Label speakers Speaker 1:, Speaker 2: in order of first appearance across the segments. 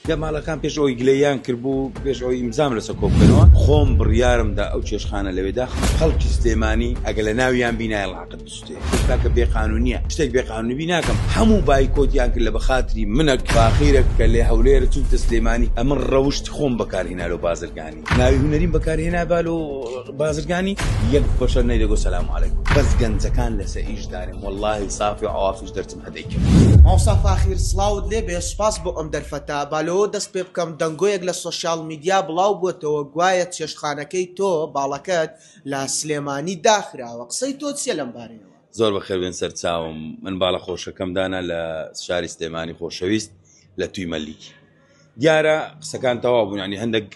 Speaker 1: دەمالەکان پێش ئەوەی گلەییان کردبوو، پێش ئەوەی ئیمزام لەسەر کۆ بکەنەوە، خۆم بڕیارم دا ئەو چێشتخانە لەوێ داخەم. خەڵکی سلێمانی ئەگەر لە ناویان بی نایەڵ عەقد بسوتێ. ئێستا کە بێ قانونیە شتێک بێ قانونی بی ناکەم. هەموو بایکۆتیان کرد لە بە خاتری منەک فاخیرەک کە لە هەولێرە چووبتە سلێمانی. ئەمن ڕەوشتی خۆم بەکار هینا لۆ بازرگانی. ناوی هونەریم بەکار هێنابا لۆ بازرگانی. یەک بەشەر نەیدەگۆ سەلام عەلەیکم. بەس گەنجەکان لەسە ئیش دانێم. وەڵاهی سافی عوافیش دەرچم. دەیکرد. مامۆستا فاخیر
Speaker 2: سڵاوت لێ بێ سوپاس بۆ ئەم دەرفەتە، با لەوە دەست پێ بکەم دەنگۆیەک لە سۆشیال میدیا بڵاو بووەتەوە گوایە چێشتخانەکەی تۆ، باڵەکەت، لە سلێمانی داخراوە قسەی تۆ چیە لەم بارەیەوە؟ زۆر بەخێر بێن
Speaker 1: سەرچاوم، من باڵە خۆشەکەم دانا لە شاری سلێمانی خۆشەویست لە توی مەلیک. دیارە قسەکان تەواو بوون یانی هەندەک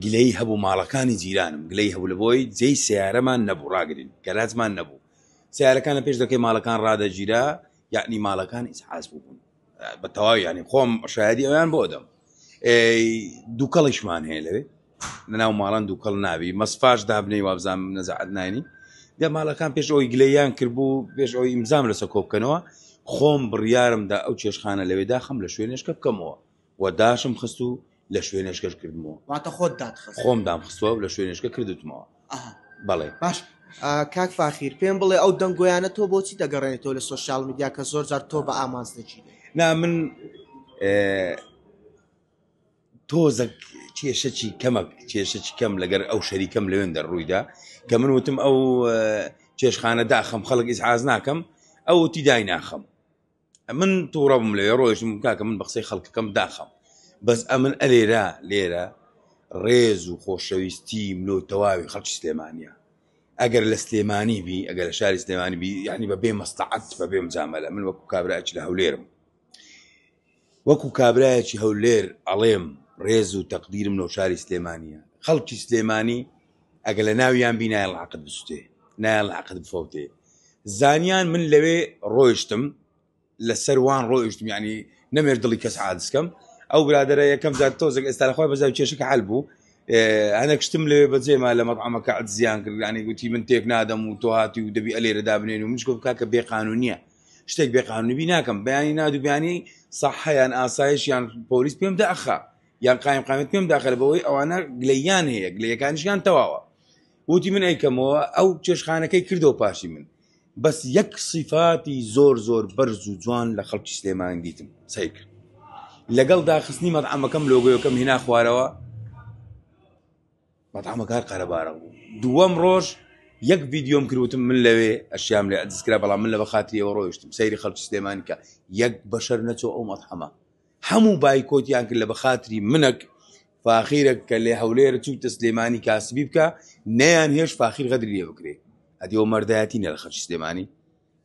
Speaker 1: گلەیی هەبوو ماڵەکانی جیرانم گلەیی هەبوو لەبۆی جێی سەیارەمان نەبوو ڕاگرین گەراجمان نەبوو سیارەکان لە پێش دەکەی ماڵەکان ڕدەگیرا یعنی ماڵەکان ئیسحاز بوون بە تەواو ینی خۆم شایدی ئەویان بۆ دەم دووکەڵیشمان هەیە لەوێ لەناو ماڵان دووکەڵ ناوی مەسفاش دابنەی وابزان نەزعات ناینی دە ماڵەکان پێش ئەوی گلیان کردبوو پێش ئەوی ئیمزام لەسە کۆبکەنەوە خۆم بڕیارمدا ئەو چێشخانە لەوێدا خەم لە شوێنێشکە بکەمەوە و داشم خست و لە شوێنێشکەش کردمەوە. واتە خۆت دات خست؟
Speaker 2: خۆم دام خستوە و لە
Speaker 1: شوێنێشکە کردوتمەوە. ئەها. بەڵێ. باش
Speaker 2: کاک فاخیر پێم بڵێ ئەو دەنگۆیانە تۆ بۆچی دەگەڕێنێتەوە لە سۆشیال میدیا کە زۆر جار تۆ بە ئامانج دەگیرێ؟ نا من
Speaker 1: تۆزەک کێشەچی کەمەک کێشەچ کەم لەگەر ئەو شەریکەم لەوێن دەڕوویدا کە من وتم ئەو چێشخانە داخم خەڵک ئیزحاز ناکەم ئەو تی دای ناخم من تووڕە بووم لەوێ ڕۆیشتم گوتم کاکە من بە قسەی خەڵکەکەم داخەم بەس ئەمن ئەلێرا لێرە ڕێز و خۆشەویستیم لۆ تەواوی خەڵکی سلێمانیە ئەگەر لە سلێمانی بی ئەگەر لە شاری سلێمانی بی یعنی بە بێ مەستەعەت بە بێ مجامەلە من وەکو کابراچ لە هەولێرم وەکو کابراایەکی هەولێر ئەڵێم ڕێز و تەقدیرم لۆ شاری سلێمانیە خەڵکی سلێمانی ئەگە لە ناویان بی نایە ڵاقت بسوتێ نایە ڵاقت بفەوتێ زانیان من لەوێ ڕۆیشتم لە سەروان ڕۆیشتم ینی نەمێر دڵی کەس عادسکەم ئەو برادرە یەکەم جار تۆزێک ئێستا لەخوای بەزای کێشەکە حل بوو هەنێک شتم لەوێ بەجێما لە مەقامەکە زیان کردانی گوتی من تێک نادەم و تۆ هاتی و دەبی ئەلێرە دابنێن و منش گفت کاکە بێ قانونیە شتێک بێ قانونبی ناکەم بەیانی نادوبیانی سەحیان ئاسایش یان پۆلیس پێم دەخا یان قایم قامت پێم داخل بەوەی ئەوانە گلەیان هەیە گلەکانیشیان تەواوە وتی من ئەیکەمەوە ئەو چێشخانەکەی کردەوە پاشی من بەس یەک سیفاتی زۆر زۆر بەرز و جوان لە خەڵکی سلێمان دیتم سیک لەگەڵ داخستنی مەتعمەکەم لۆگۆیەکەم هینا خوارەوە مەتعمەکار قەرەبارە بوو دووەم ڕۆژ یەک ڤیددیۆم کروتم من لەوێ ئەشیام لێ ئەدیسکرا بەڵام من لە بەخاتریەوە ڕۆیشتم سەیری خەڵکی سلێمانکە یەک بەشەر نەچۆ ئەو مەتحەمە هەموو بایکۆتیان کرد لە بەخاتری منەک فاخیرەک کە لێ هەولێر چوو تە سلێمانی کاسبی بکە نەیان هێش فاخیر غەدری لێ بکرێ ئەدیەوە مەردایەتی نە لە خەرچ سلێمانی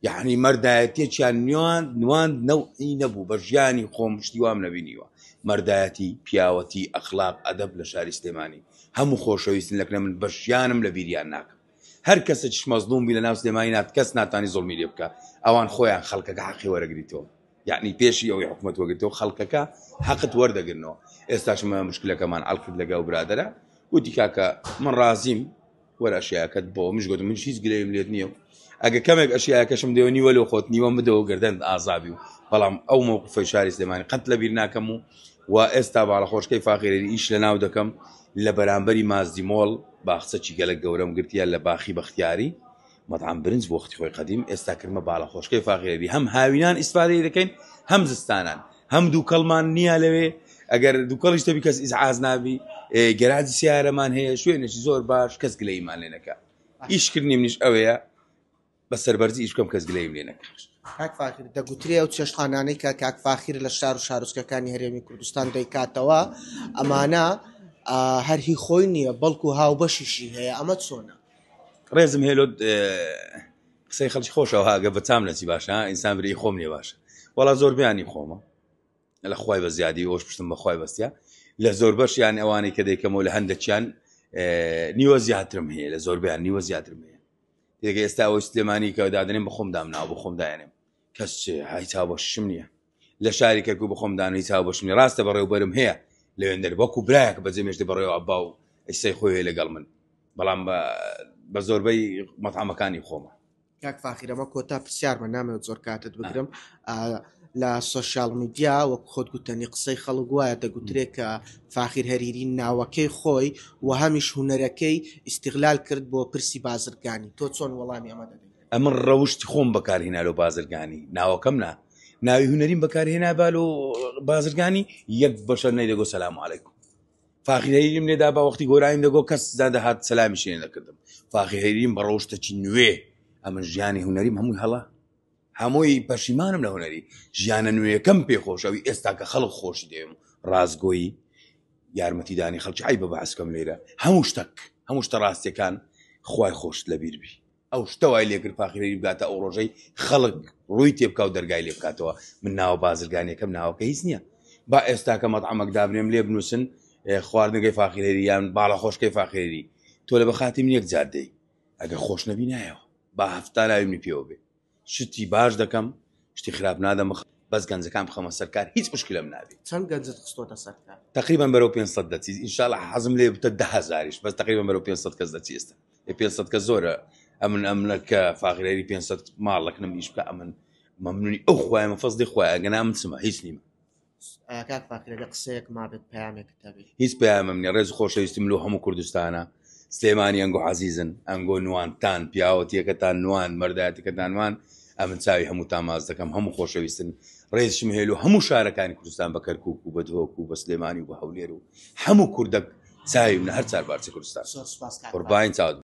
Speaker 1: یعنی مەردایەتێکیان نوان نوان نەوعی نەبوو بە ژیانی خۆم شتی وام نەبینیوە مەردایەتی پیاوەتی ئەخلاق ئەدەب لە شاری سلێمانی هەموو خۆشەویستن لەکنە من بە ژیانم لە بیریان ناکەم هەر کەسە چش مەزلوم بی لە ناو سلێمانی نات کەس ناتانی زڵمی لێ بکە ئەوان خۆیان خەڵکەکە حەقی وەرەگریتەوە یەعنی پێشی ئەوەی حکومەت وەگرتەوە خەڵکەکە حەقت وەردەگرنەوە ئێستاش مە مشکلەکەمان ئەڵکرد لەگەڵ برادرە وتی کاکە من ڕازیم وەرە ئەشیاکەت بۆ منش گوت من هیچ گرێم لێت نییە ئەگە کەمێک ئەشیاکەشم دێو نیوە لە خۆت نیوە بدەوە گردن ئازابی و بەڵام ئەو مووقفی شاری سلێمانی قەت لە بیر ناکەم و و ئێستا باڵە خۆشکەی فاقیرێری ئیش لە ناو دەکەم لە بەرامبەری مازدیمۆڵ باخچەکی گەلە گەورەم گرتیان لە باخی بەختیاری مەتعەم برنج بۆ وەختی خۆی قەدیم ئێستا کردمە باڵەخۆشکەی فاخیرەبی هەم هاوینان ئیسفادەی دەکەین هەم زستانان هەم دووکەڵمان نییە لەوێ ئەگەر دووکەڵیش تەبی کەس ئیزعاز نابی گەراجی سیارەمان هەیە شوێنێکی زۆر باش کەس گلەیمان لێ نەکە ئیشکردنی منیش ئەوەیە بە سەربەرزی ئیش بکەم کەس گلەیم لێ نەکە کاک فاخیر
Speaker 2: دەگوترێ ئەو چێشتخانانەی کە کاک فاخیر لە شار و شارۆچکەکانی هەرێمی کوردستان دەیکاتەوە ئەمانە هەرهی خۆی نییە بەڵکو هاوبەشیشی هەیە ئەمە چۆنە ڕێزم هێلۆ
Speaker 1: قسەی خەڵک خۆشەوە هاگە بەتام نەچی باشە ئینسان بری خۆم لێ باشە وەڵا زۆر بیانی خۆمە لە خی بە زیادی ئەوش پشتم بەخوای بەستە لە زۆر بەشیان ئەوانەی کە دەیکەمەوە لە هەندەکیان نیوە زیاترم هەیە لە زۆربیان نیوە زیاترم هەیە دێگە ئێستا ئەوەی سلێمانی کە دادنێن بە خۆم دامناوە بە خۆم داێنم کەس هایتا بەشم نییە لە شاری کەرکوک بە خۆم دانەوە هیچ هاوبەشم نیە ڕاستە بەڕێوبەرم هەیە لەوێندەر وەکو برایەک بە جەمێشتی بەڕێوە ئەبا و ئیسەی خۆی هەیە لەگەڵ من بەڵام بە زۆربەی مەتعامەکانی خۆمە کاک
Speaker 2: فاخیرەمە کۆتا پرسیارمە نامەوێت زۆر کاتت بگرم لە سوۆسیال میدیا وەک خۆت گوتنی قسەی خەڵک وایە دەگوترێت کە فاخیر هەریری ناوەکەی خۆی و هەمیش هوەرەکەی ئیسیغلال کرد بۆ پرسی بازرگانی تۆ چۆن وەڵامی ئەمە دەدەیت ئەمن ڕەوشتی خۆم
Speaker 1: بەکارهێنا لەو بازرگانی ناوەکەم نا ناوی هوەریم بەکارهێنا با لۆ بازرگانی یەک بەشە نەیدەگۆ سەسلام عیکم فاخیریم لێدا بە وەختی گۆرایم دەگۆ کەس زادە هاات سەلامی شێن دەکردم فاخیریم بە ڕۆشتەکی نوێ ئەمە ژیانی هوەریم هەمووی هەڵە هەمووی پەشیمانم لە هوەری ژیانە نوێیەکەم پێخۆشەوی ئێستا کە خەڵک خۆشی دێم ڕاستگۆیی یارمەتیدانی خەڵکی ئای بە بەعسکەم لێرە هەموو شتەک هەموو شتە ڕاستیەکان خی خۆشت لەبیربی ئەو شتە وای لێکرد فاخیرەری بگاتە ئەو ڕۆژەی خەڵک ڕووی تێبکاو دەرگای لێ بکاتەوە من ناوە بازرگانیەکەم ناوەکە هیچ نییە با ئێستاکە مەتعمەک دابنێم لێ بنووسن خواردنەکەی فاخیرێری یان باڵە خۆشکەی فاخێری تۆ لە بەخاتی من یەک جادەی ئەگە خۆش نەبی نایەوە با هەفتاناوی من پێوە بێ شتی باش دەکەم شتی خراپ نادەم بخ بەس گەنجەکان بخەمە سەرکار هیچ مشکلم نابێت چەند گەنجت خستۆتە
Speaker 2: سەرکار تقریبا بەرەو 500
Speaker 1: دەچیت انشاءالله حەزم لێ بتە دههزاریش بەس تقریبا بەرەو 500 کەس دەچی ئێستا 500 کە زۆرە ئەمن ئەمنە کە فاغرێری 500 ماڵەکنم نیش بکە ئەمن مەمنونی ئەو خخوایمە فەزلی خخوایە گەنا من چمە هیچ نیمە کاک
Speaker 2: فاکرە لە قسەیەک مابێت پامێکت هەبێت هیچ پامم نیە ڕێز
Speaker 1: خۆشەویستم لۆ هەموو کوردستانە سلێمانی ئەنگۆ عزیزن ئەنگۆ نوانتان پیاوەتیەکەتان نوان مەرداتەکەتانوان ئەمن چاوی هەموو تاماز دەکەم هەموو خۆشەویستن ڕێزشم هێل و هەموو شارەکانی کوردستان بە کەرکک و بە دهۆک و بە سلێمانی و بە هەولێر و هەموو کوردەک چاوی منە هەر
Speaker 2: چار
Speaker 1: بارچە کوردستان قوربان چاوت